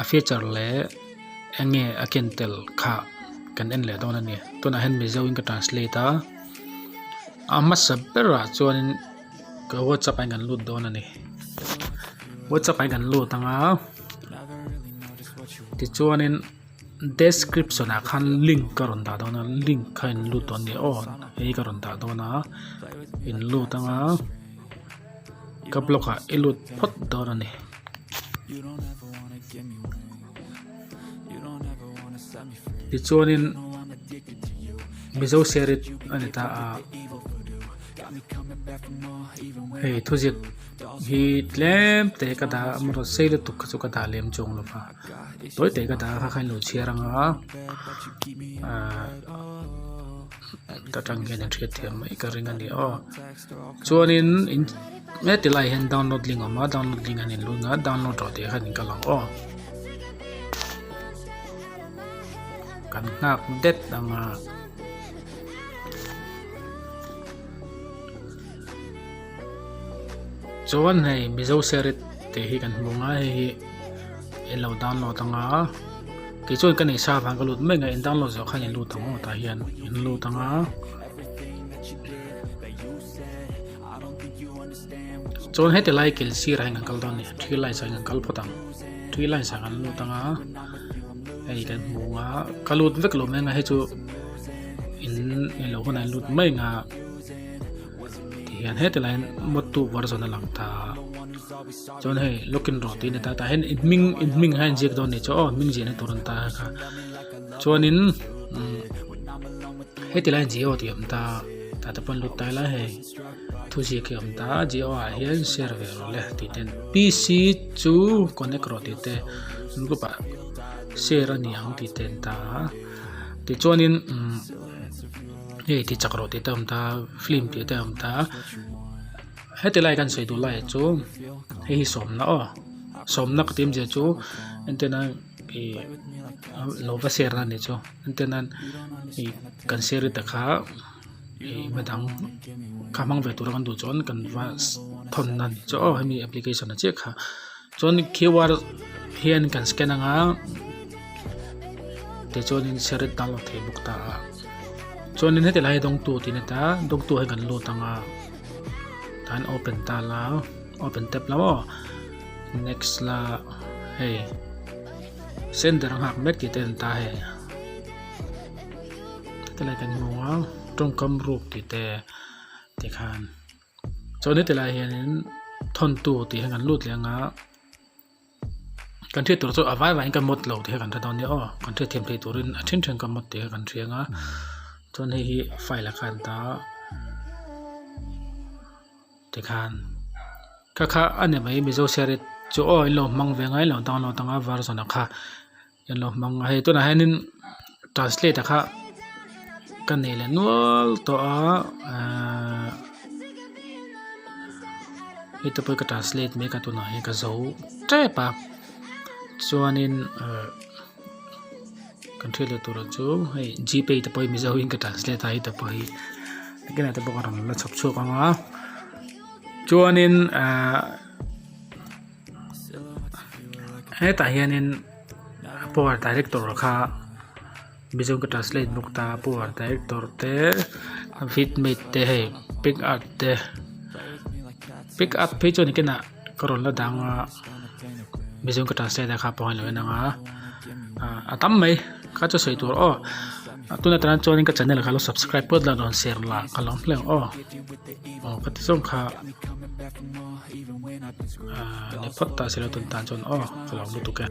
A feature leh enge a ken tel kha kan en leh dawn a ni tunah hian mizo in ka translate a a hmasa berah chuanin ka whatsapp ain kan lut dawn a ni whatsapp ain kan lut ang a tichuanin description ah khan link ka rawn dah dawn a link kha in lut dawn a ni aww hei ka rawn dah dawn a in lut ang a. Ka block ah i lut phawt dawn a ni. Tichuanin Mizo Serit a ni ta a. Hei thuziak hi tlem te ka dah a amarawh sei lutuk kha chu ka dah lem chawng lo va. Tawi te ka dah a kha kha in lo chhiar ang a. Ahh ka tang hian in hriat thiam mai ka ring a ni aw. Chuanin in he ti laiah hian download link a awm a download link an inluan a download rah tih khan in ka lang aw kan nghak det ang a chuan hei mizo serit tih hi kan hmu ang a hei hi i lo download ang a kei chuan ka nei sa avang ka lut mek ngaihin download zawh khan in lut ang aw tah hian in lut ang a. chuan heti lai kil sir ah hian kan kal dawn nia three lines ah hian kan kal phawt ang three lines ah kan lut anga hei kan hmu a ka lut vek lo mai anga hei chu in in lo hunah in lut mai anga tihian heti laiin mode two var zawna lang ta chuan hei login rah tih a ni ta tah hian in hming in hming kha inziak dawn ni chu aw hming ziahna tur an ta kha. chuanin umm heti lai Jio tih awm ta tah te pawh an lut tai lai hei thu ziak hi a awm ta a Jio ah hian share ve rawh le tih te PC chu connect rawh tih te group ah share a ni ang tih te an ta a tichuanin umm hei ti chak rawh tih te a awm ta a film tih te a awm ta a heti lai kan sawi duh lai ah chuan hei hi sawmna aw sawmna ka ti awmzia chu entirna-- ih lo va share nan leh chu heti nan ih kan share ita kha ih midang kha hmang ve tura kan duh chuan kan va thawn na ni chu aw hemi application ah chiah kha chuan Q_R hian kan scan anga tichuan in share ita download thei bawk ta chuan in heti lai hi dawng tu tih a ni ta dawng tu hi kan lut anga kan open ta la open tap la maw. Next la hei center a nghak mek tih te an ta hei heti lai kan hmu a tawngkam ruk tih te tikhan chuan heti lai hianin thawntu tih hian kan lut leh anga kan hriat tur chu a vai vangin ka mawt lo tih kha kan hre dawn nia aw kan hriat thiam theih turin a then then ka mawt tih kha kan hria anga chuan hei hi file a kha an ta a. Tikhan ka kha a ni mai Mizo Share it chu aw in lo hmang ve ngai lo dang lo dang a version a kha in lo hmang hei tunah hian in translate a kha ka nei leh nual tawh a aaa hei te pawh ka translate mek a tunah hian ka zo tep a chuan in aaa. kan hriat loh tur ah chu hei g pay te pawhin mizo in ka translate a heta pawh hi biakin ate pawh ka rawn la chhawp chhuak ang a chuanin ahh hetah hianin power director kha mizo ka translate bawk ta power director te fitmate te hei pick up te pick up phei chuan ken ah-- ka rawn la dang a mizo ka translate a kha a pawngaih loh a inang a ah a tam mai kha chu sawi tur aw tuna tan chuan ka channel kha lo subscribe pawt la a rawn share la ka lawm hleng aw aw ka ti zawng kha ah niphawt ta silo tun tan chuan aw ka lo lutuk e.